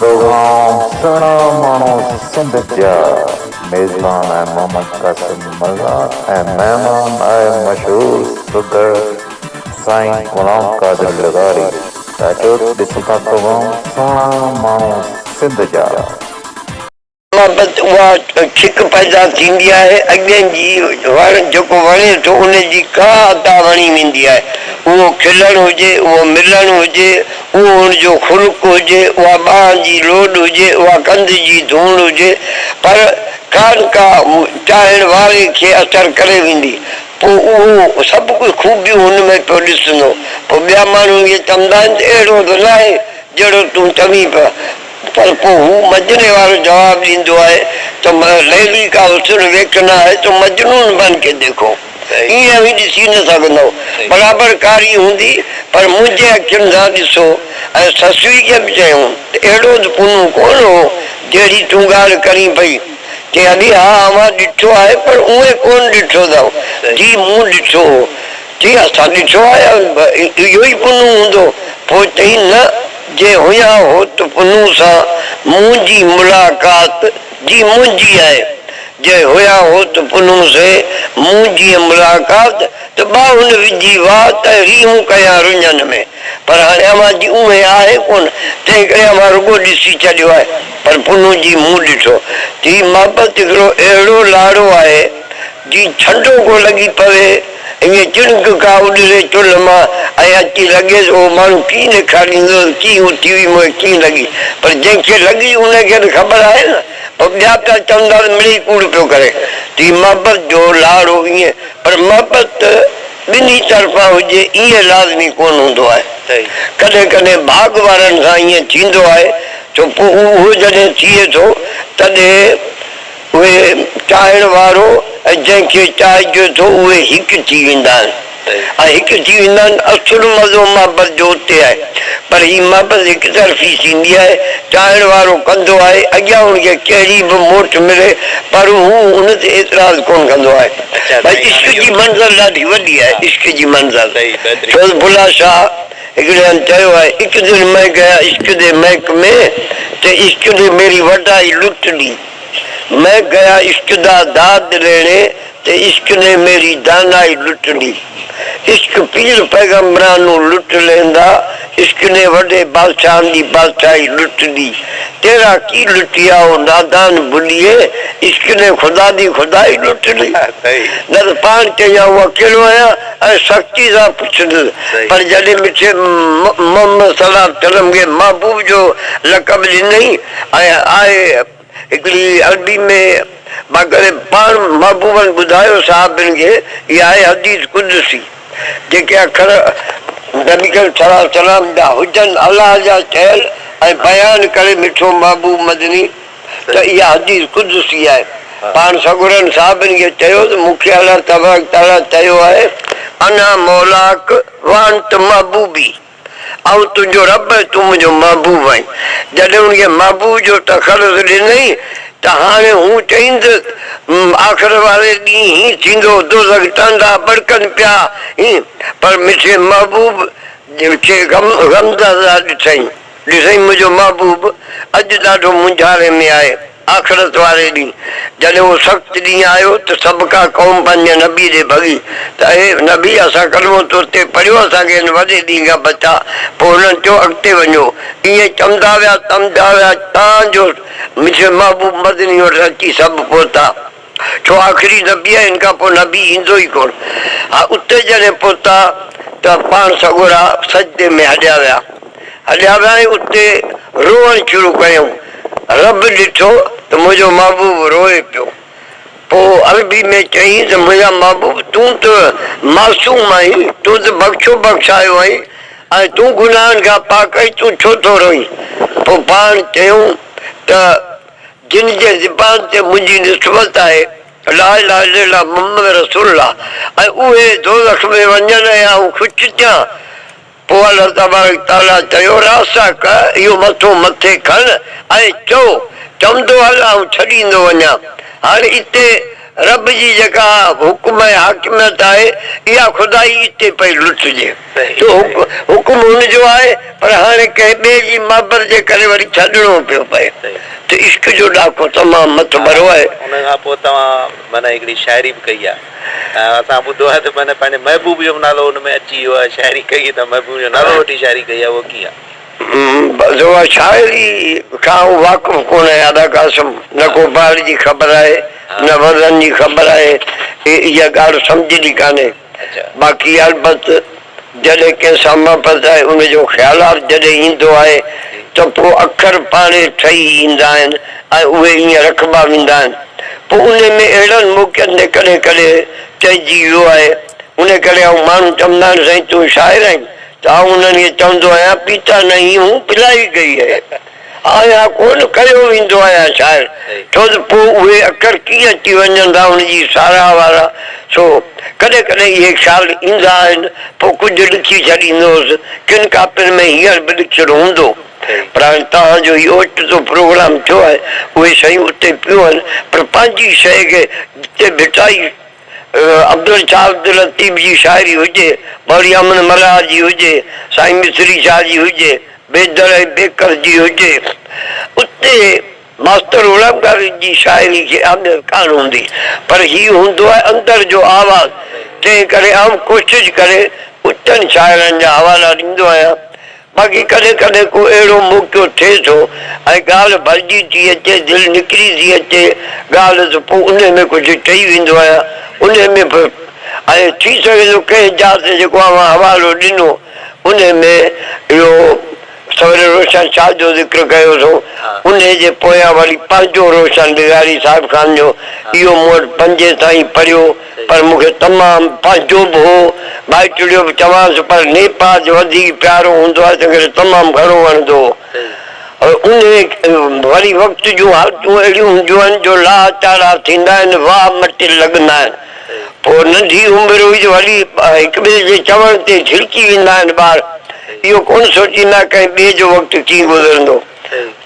توهان سهڻا ماڻهو سنڌ جا. ميزبان آء محمد قاسم مرزا ۽ مهمان آء مشهور سگهڙ سائين غلام قادر لغاري. چاچو ڏسون ٿا توهان سهڻا ماڻهو سنڌ جا. بابت اها ڇڪ پيدا ٿيندي آهي، اڳين جي وڻ جيڪو وڻي ٿو ان جي ڪا ادا وڻي ويندي آهي، اهو کلڻ هجي، اهو ملڻ هجي، اهو ان جو خلق هجي، اها ٻانهن جي لوڏ هجي، اها ڪنڌ جي ڌوڻ هجي، پر ڪا نه ڪا چاهڻ واري کي اثر ڪري ويندي، پوء اهو سڀ ڪجهه خوبيون هن ۾ پيو ڏسندو، پوء ٻيا ماڻهو اهي چوندا آهن ته اهڙو ته ناهي جهڙو تون چوين پيو. پر پوء هو مجني وارو جواب ڏيندو آهي ته ليلي ڪا حسن ويڪ نه آهي ته مجنون بن ڪي ديکو. ائين اوهين ڏسي نه سگهندؤ. برابر ڪاري هوندي پر منهنجي اکين سان ڏسو. ۽ سسئي کي به چيائون ته اهڙو ته پونو ڪونه هو جهڙي تون ڳالهه ڪرين پئي. چيائين ها اوهان ڏٺو آهي پر اونهي ڪونه ڏٺو اٿئو جيئن مون ڏٺو هو. جي اسان ڏٺو آهي اهو ئي پنهون هوندو. پوء چيائين نه جي هيا هو ته پنهون سان منهنجي ملاقات جي منهنجي آهي جي هيا هو ته پنهون سين منهنجي ملاقات ته ٻاهن وجهي واء ته ريهون ڪيان رڃن ۾ پر هاڻي اوهان جي اوهين آهي ڪونه تنهن ڪري اوهان رڳو ڏسي چڏيو آهي پر پنهون جي مون ڏٺو ٿي محبت هڪڙو اهڙو لاڙو آهي جي ڇنڊو ڪو لڳي پوي، ائين چڻڪ ڪا اڏري چلهه مان ۽ اچي لڳيس، اهو ماڻهو ڪيئن ڏيکاريندو ته ڪيئن اهو ٽي وي موهي ڪيئن لڳي، پر جنهن کي لڳي ان کي ته خبر آهي نه، پوء ٻيا پيا چوندا ته مڙيئي ڪوڙ پيو ڪري، تي محبت جو لاڙو ائين، پر محبت ته ٻنهي طرفان هجي ائين لازمي ڪونه هوندو آهي، ڪڏهن ڪڏهن ڀاڳ وارن سان ائين ٿيندو آهي، ڇو پوء اهو جڏهن ٿئي ٿو تڏهن. اهي چاهڻ وارو ۽ جنهن کي چاهجي ٿو اهي هڪ ٿي ويندا آهن ۽ هڪ ٿي ويندا آهن. اصل مزو محبت جو اتي آهي پر هي محبت هڪ طرفي ٿيندي آهي. چاهڻ وارو ڪندو آهي اڳيان هن کي ڪهڙي به موٽ ملي پر هو ان تي اعتراض ڪونه ڪندو آهي. ڀائي عشق جي منزل ڏاڍي وڏي آهي عشق جي منزل ڇو ته بلا شاهه هڪڙي هنڌ چيو آهي اڪ دن مئن گيا عشق دي محڪمي تي عشق ني ميري وڍائي لٽ ڏي. مئن گيا عشق دا داد ليڻي ته عشق ني ميري دانائي لٽ لي عشق پير پيغمبران نون لٽ ليندا عشق ني وڏي بادشاهن دي بادشاهي لٽ لي تيرا ڪي لٽيا او نادان بليي عشق ني خدا دي خدائي لٽ لي در پاڻ چيان هون اڪيلو آهيان ۽ سختي سان پڇندس پر جڏهن مٺي محمد صلعم تنم کي محبوب جو لقب ڏنئي. ۽ آء هڪڙي عربي ۾ مان ڪري پاڻ محبوبن ٻڌايو صحابين کي هي آهي حديث قدسي جيڪي اکر نبي ڪريم صلي الله عليه وسلم جا هجن الله جا چيل ۽ بيان ڪري مٺو محبوب مدني ته اها حديث قدسي آهي پاڻ سڳورن صحابين کي چيو ته مون کي الله تبارڪ تعالي چيو آهي انا مولاڪ وانت محبوبي. آئون تنهنجو رب ۽ تون منهنجو محبوب آهين. جڏهن ان کي محبوب جو تخلص ڏنئي ته هاڻي هون چئيندس م آخر واري ڏينهن هيئن ٿيندو، دوزخ ٽانڊا ٻڙڪن پيا هين، پر مٺي محبوب کي غمزده ڏٺئي، ڏسئي منهنجو محبوب اڄ ڏاڍو مونجهاري ۾ آهي. آخرت واري ڏينهن جڏهن اهو سخت ڏينهن آيو ته سڀ ڪا قوم پنهنجي نبي ڏي ڀڳي ته اي نبي اسان ڪلمو تو تي پڙهيو اسان کي هن وڏي ڏينهن کان بچاء پوء انهن چيو اڳتي وڃو ائين چمندا ويا چمندا ويا تان جو منهنجو محبوب مدني وٽ اچي سڀ پهتا. ڇو آخري نبي آهي هن کان پوء نبي ايندو ئي ڪونه ها اتي جڏهن پهتا ته پاڻ سڳورا سجدي ۾ هڏيا ويا هڏيا ويا ۽ اتي روئڻ شروع ڪيائون رب ڏٺو ته منهنجو محبوب روئي پيو پوء عربي ۾ چيائين ته منهنجا محبوب تون ته معصوم آهين تون ته بخشو بخشايو آهين ۽ تون گناهن کان پاڪ آهين تون ڇو ٿو روئين پوء پاڻ چيائون ته جن جي زبان تي منهنجي نسبت آهي لا اله الا الله محمد رسول الله ۽ اهي دوزخ ۾ وڃن ۽ آئون خوش ٿيان پوء الله تبارڪ وتعاليٰ چيو راسا ڪه اهو مٿو مٿي کڻ ۽ چئو چوندو هل آئون ڇڏيندو وڃان هاڻ اتي رب جي جيڪا حڪم ۽ حاڪميت آهي، اها خدائي اتي پئي لٽجي. سو حڪم هن جو آهي، پر هاڻي ڪنهن ٻئي جي محبت جي ڪري وري ڇڏڻو پيو پئي ته عشق جو ڏاڪو تمام مٿ ڀرو آهي. ان کان پوء توهان معنيٰ هڪڙي شاعري به ڪئي آهي. اسان ٻڌو آهي ته معنيٰ پنهنجي محبوب جو به نالو ان ۾ اچي ويو آهي. شاعري ڪئي ته محبوب جو نالو وٺي شاعري ڪئي آهي، اهو ڪيئن؟ بس اها شاعري کان آئون واقف ڪونهي ادا قاسم. نه ڪو بهر جي خبر آهي نه ورن جي خبر آهي اها ڳالهه سمجهه جي ڪانهي باقي البت جڏهن ڪنهن سان محبت آهي ان جو خيالات جڏهن ايندو آهي ته پوء اکر پاڻهي ٺهي ايندا آهن ۽ اهي ايئن رکبا ويندا آهن پوء انهي ۾ اهڙن موقعن تي ڪڏهن ڪڏهن چئجي ويو آهي انهي ڪري آئون ماڻهو چوندا آهن سائين تون شاعر آهين تعاون ۾ چوندو آهيان پيتا نهين هون پلائي گئي هي آهيا ڪونه ڪيو ويندو آهيان شاعر ڇو ته پوء اهي اکر ڪيئن اچي وڃن ٿا ان جي ساراهه وارا سو ڪڏهن ڪڏهن اهي خيال ايندا آهن پوء ڪجهه ڏکي ڇڏيندو هوس ڪن ڪاپين ۾ هينئر به ڏکيل هوندو پر هاڻي توهان جو هي اوچتو پروگرام ٿيو آهي اهي شيون اتي پيون آهن پر پنهنجي شيء کي جتي ڀٽائي عبدل شاهه عبداللطيف جي شاعري هجي، ٻهڙي امن ملاح جي هجي، سائين مصري شاهه جي هجي، بيدل ۽ بيڪر جي هجي، اتي ماستر غلام قادر جي شاعري کي اهميت ڪانه هوندي، پر هي هوندو آهي اندر جو آواز، تنهن ڪري آئون ڪوشش ڪري اتن شاعرن جا حوالا ڏيندو آهيان. باقي ڪڏهن ڪڏهن ڪو اهڙو موقعو ٿئي ٿو ۽ ڳالهه ڀرجي ٿي اچي، دل نڪري ٿي اچي ڳالهه ته پوء انهي ۾ ڪجهه چئي ويندو آهيان. انهي ۾ به ائين ٿي سگهي ٿو ڪنهن جاء تي جيڪو اوهان حوالو ڏنو انهي ۾ اهو سوري روشن شاهه جو ذڪر ڪيو اٿو انهي جي پويان وري پنهنجو روشن بغاري صاحب خان جو اهو مون وٽ پنجين تائين پڙهيو پر مون کي تمام پنهنجو به هو، ڀائٽڙيو به چوانس، پر نيپاء جو وڌيڪ پيارو هوندو آهي، تنهن ڪري تمام گهڻو وڻندو هو. انهيء وري وقت جون حالتون اهڙيون هونديون آهن، جو لاهه چاڙها ٿيندا آهن، واهه مٽي لڳندا آهن، پوء ننڍي عمر هئي جو وري هڪٻئي جي چوڻ تي جهلڪي ويندا آهن، ٻار اهو ڪونه سوچيندا ڪنهن ٻئي جو وقت ڪيئن گذرندو.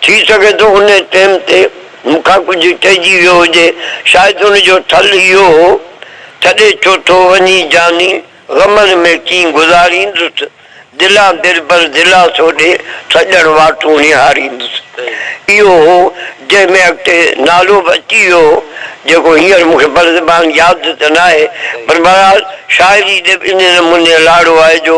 ٿي سگهي ٿو انهي ٽيم تي مون کان ڪجهه چئجي ويو هجي، شايد ان جو ٺل اهو هو، ڇڏي ڇو ٿو وڃين جاني، غمن ۾ ڪين گذاريندس، دلان دلبر دلاسو ڏي، سڄڻ واٽون نهاريندس. اهو هو جنهن ۾ اڳتي نالو به اچي ويو هو، جيڪو هينئر مون کي برزبان ياد ته ناهي، پر بهرحال شاعري ڏي به انهي نموني لاڙو آهي جو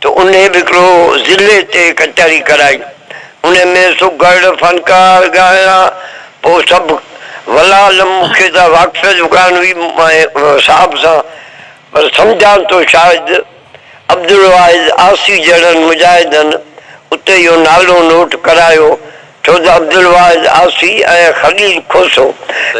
ته انهي به هڪڙو ضلعي تي ڪچهري ڪرائي، انهي ۾ سگهڙ فنڪار ڳايا، پوء سڀ ولا علم مون کي ته واقفيت به ڪانه هئي مائين صاحب سان، پر سمجهان ٿو شايد عبدالواحد آسي جهڙن مجاهدن اتي اهو نالو نوٽ ڪرايو. ڇو ته عبدالواحد آسي ۽ خليل کوسو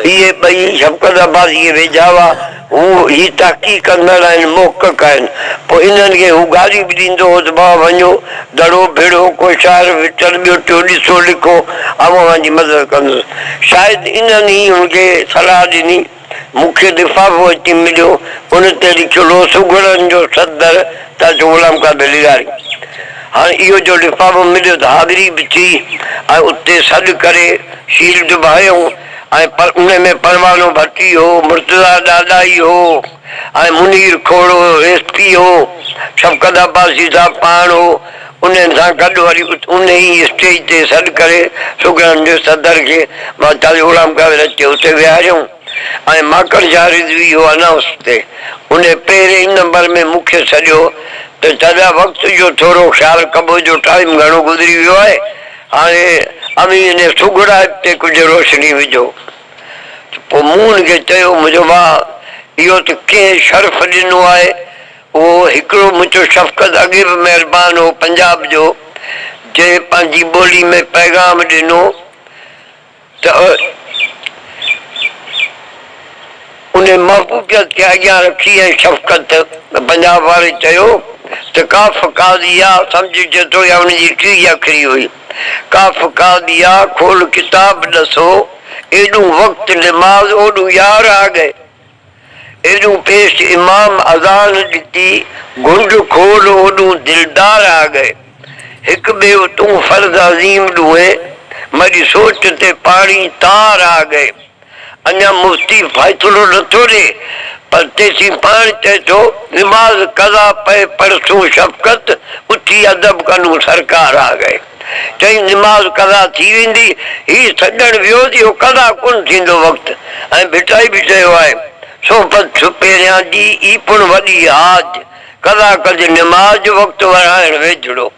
اهي ٻئي شفقت عباسي کي ويجها هئا. هو هي تحقيق ڪندڙ ۽ محقق آهن. پوء انهن کي هو گاريون به ڏيندو هو ته ڀاء وڃو، دڙو ڀيڙو، ڪو شاعر وٽن ٻيو ٽيو ڏسو، لکو، آئون اوهان جي مدد ڪندس. شايد انهن ئي هن کي صلاح ڏني. مون کي لفافو اچي مليو، ان تي لکيل هو سگهڙن جو صدر تاجو غلام قادر لغاري. هاڻ اهو جو لفافو مليو ته حاضري به ٿي ۽ اتي سڏ ڪري شيلڊ به هنيون ۽ پر ان ۾ پروانو ڀٽي هو، مرتضيٰ ڏاڏاهي هو ۽ منير کوڙو ايس پي هو، شفقت عباسي صاحب پاڻ هو. انهن سان گڏ وري انهي ئي اسٽيج تي سڏ ڪري سگهڙن جي صدر کي مان چالي غلام قادر اچي اتي ويهاريائون ۽ ماڪڙجا رضوي هو انائونس تي انهي پهرين ئي نمبر ۾ مون کي سڏيو ته چاليا وقت جو ٿورو خيال ڪبو جو ٽائيم گهڻو گذري ويو آهي هاڻي اوهين انهي سگهڙائپ تي ڪجهه روشني وجهو ته پوء مون هن کي چيو منهنجو ڀاء اهو ته ڪنهن شرف ڏنو آهي اهو هڪڙو منهنجو شفقت اڳي به مهربان هو پنجاب جو جنهن پنهنجي ٻولي ۾ پيغام ڏنو ته ان محبوبيت کي اڳيان رکي ۽ شفقت پنجاب واري چيو ته ڪاف قاضيا سمجهه جيترو يا ان جي ٽيهه اکري هئي ڪاف قاضيا کول ڪتاب ڏسو ايڏون وقت نماز اوڏون يار آ گئي. ايڏون پيش امام اذان ڏتي، گهنڊ کول اوڏون دلدار آ ڳئي، هڪ ٻيو تون فرض عظيم ڏوهي، مڙي سوچ تي پاڻي تار آ ڳئي. اڃا مفتي فيصلو نٿو ڏي، پر تيسين پاڻ چئي ٿو، نماز قضا پئي پڙهسون شفقت، اٿي ادب ڪنون سرڪار آ ڳئي. چئين، نماز قضا ٿي ويندي، هي سڏڻ ويو ته اهو قضا ڪونه ٿيندو وقت ۽ ڀٽائي به چيو آهي، صحبت ڇپيريان جي ئي پڻ وڏي حاج، قضا ڪج نماز جو وقت ورهائڻ ويجهڙو،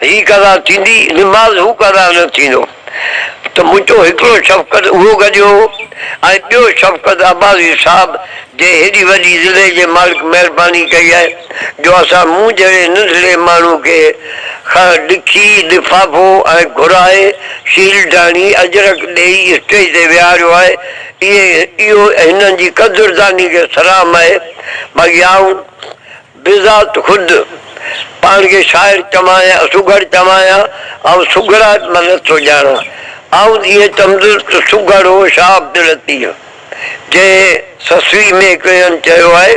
هي قضا ٿيندي، نماز هو قضا نه ٿيندو ته منهنجو هڪڙو شفقت اهو گڏيو هو ۽ ٻيو شفقت عباسي صاحب، جنهن هيڏي وڏي ضلعي جي مالڪ مهرباني ڪئي آهي جو اسان مون جهڙي ننڍڙي ماڻهو کي خر، ڏکي، لفافو ۽ گهرائي شيلڊاڻي اجرڪ ڏيئي اسٽيج تي ويهاريو آهي اهي اهو هنن جي قدرداني کي سلام آهي باقي آئون بذات خود پاڻ کي شاعر چوان يا سگهڙ چوان يا آئون سگهڙائپ مان نه ٿو ڄاڻان. آئون جيئن چوندس ته سگهڙ هو شاه عبداللطيف جنهن سسوي ۾ هڪ هنڌ چيو آهي.